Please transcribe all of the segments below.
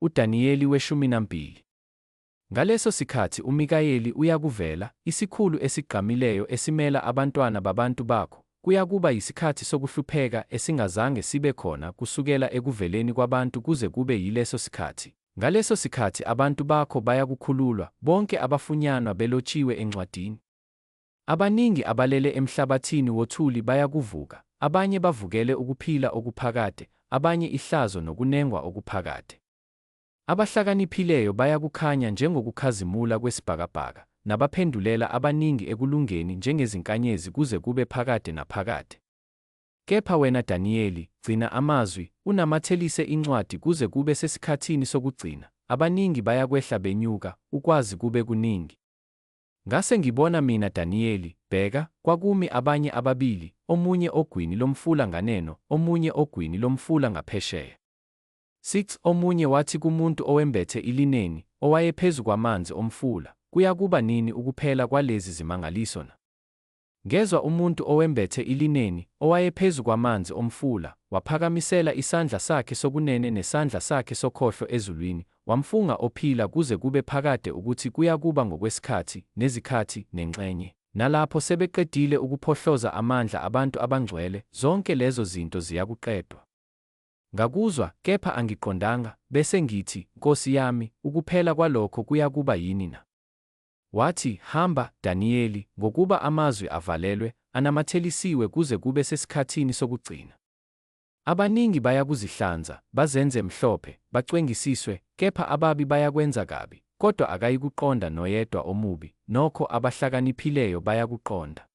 UDaniyeli weshuminambili. Ngaleso sikhathi uMikayeli uyakuvela, isikhulu esigqamileyo esimela abantwana babantu bakho, kuyakuba yisikhathi sokuhlupheka esingazange sibe khona kusukela ekuveleni kwabantu kuze kube yileso sikhathi. Ngaleso sikhathi abantu bakho bayakukhululwa, bonke abafunyanwa belotshiwe encwadini. Abaningi abalele emhlabathini wothuli bayakuvuka, abanye bavukele ukuphila okuphakade, abanye ihlazo nokunengwa okuphakade. Abahlakaniphileyo bayakukhanya njengokukhazimula kwesibhakabhaka, nabaphendulela abaningi ekulungeni njengezinkanyezi kuze kube phakade naphakade. Kepha wena Daniyeli, gcina amazwi, unamathelise incwadi kuze kube sesikhathini sokugcina, abaningi bayakwehla benyuka, ukwazi kube kuningi. Ngase ngibona mina Daniyeli, bheka, kwakumi abanye ababili, omunye ogwini lomfula nganeno, omunye ogwini lomfula ngaphesheya. 6 omunye wathi kumuntu owembethe ilineni, owayephezu kwamanzi omfula, Kuyakuba nini ukuphela kwalezi zimangaliso na? Ngezwa umuntu owembethe ilineni, owayephezu kwamanzi omfula, waphakamisela isandla sakhe sokunene nesandla sakhe sokhohlo ezulwini, wamfunga ophila kuze kube phakade ukuthi kuyakuba ngokwesikhathi, nezikhathi, nenxenye. Nalapho sebeqedile ukuphohloza amandla abantu abangcwele, zonke lezo zinto ziyakuqedwa. Ngakuzwa, kepha angiqondanga, bese ngithi, Nkosi yami, ukuphela kwalokho kuyakuba yini na? Wathi, Hamba, Daniyeli, ngokuba amazwi avalelwe, anamathelisiwe kuze kube sesikhathini sokugcina. Abaningi bayakuzihlanza, bazenze mhlophe, bacwengisiswe, kepha ababi bayakwenza kabi, kodwa akayikuqonda noyedwa omubi, nokho abahlakaniphileyo bayakuqonda.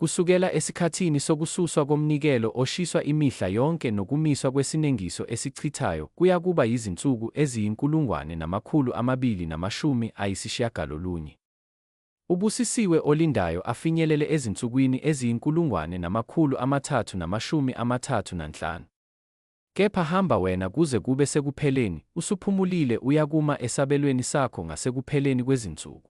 Kusukela esikhathini sokususwa komnikelo oshiswa imihla yonke nokumiswa kwesinengiso esichithayo kuyakuba yizinsuku eziyinkulungwane namakhulu amabili namashumi ayisishiyagalolunye. Ubusisiwe olindayo afinyelele ezinsukwini eziyinkulungwane namakhulu amathathu namashumi amathathu nanhlanu. Kepha hamba wena kuze kube sekupheleni, usuphumulile uyakuma esabelweni sakho ngasekupheleni kwezinsuku.